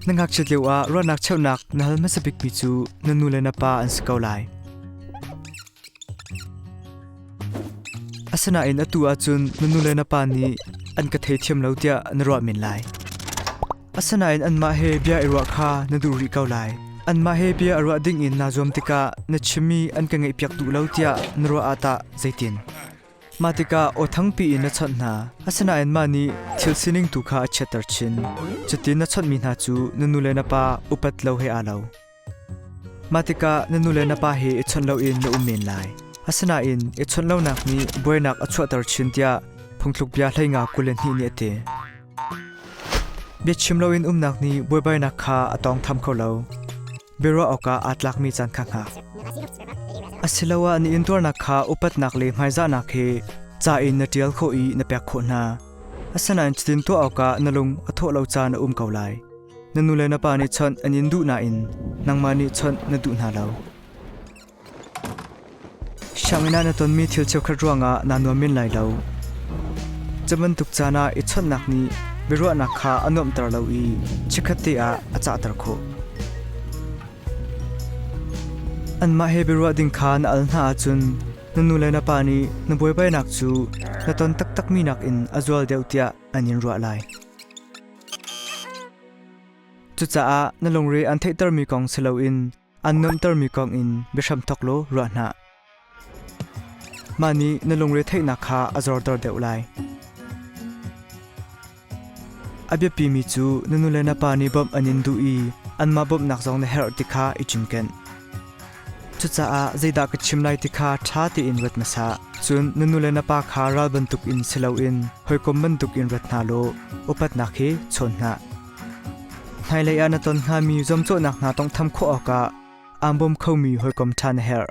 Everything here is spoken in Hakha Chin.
Na ngakchiat lio ah ruahnak cheuhnak na hal hmasa bikmi cu na nu le na pa an si ko lai. Asinain atu ahcun na nu le na pa nih an ka thei thiam lo tiah na ruah men lai. Asinain anmah he bia i ruah kha na duh rih ko lai. Anmah he bia a ruah ding in naa zuam tikah na chimmi an ka ngaihpiak duh lo tiah na ruah ah tah zeitin? Mah tikah aw thangpi in na chawnh hna, asinain mah nih thil sining tu kha a chiatter chin. Cutin na chawnhmi hna cu na nu le na pa upat lo he aa lo. Mah tikah na nu le na pa he i chawnh loin na um men lai. Asinain i chawnh lonak nih buainak a chuahter chin tiah phungthlukbia hleinga kul le hnih nih a ti. Biachim loin umnak nih buaibainak kha a tawng tham kho lo. biaruah awkah aa tlakmi caan kha hngak. Asiloah na intuarnak kha upatnak le hmaizahnak he ca in na ṭial khawh i na pek khawh hna. Asinain cutin tuah awkah na lung a thawh lo caan a um ko lai. Na nu le na pa nih chawnh an in duh nain nangmah nih chawnh na duh hna lo. Sianginn ah na tonmi thil cheukhat ruangah naa nuam men lai lo. Cu bantuk caan ah i chawnhnak nih biaruahnak kha a nuamhter lo i chikkhatte ah a cahter khawh. Anmah he biaruah ding kha na al hna ahcun na nu le na pa nih na buaibainak cu na ton taktakmi nakin a zual deuh tiah an in ruah lai. Cucaah na lungre aan theihtermi kong si loin An nuamhtermi kong in biahram thawk law ruah hna. Mah nih na lungre theihnak kha a zorter deuh lai. A biapimi cu na nu le na pa nih bawmh an in duh i anmah bawmhnak zong na herh ti kha i cinken. Cucaah zeidah ka chim lai ti kha ṭha tein ruat hmasa. Cun na nu le na pa kha ral bantuk in si loin hawikom bantuk in rat hna law upatnak hi chawn hna. Hmailei ah na ton hngami zuamcawhnak hna tawnghtham khawh awkah aan bawm khomi hawikom ṭha na herh.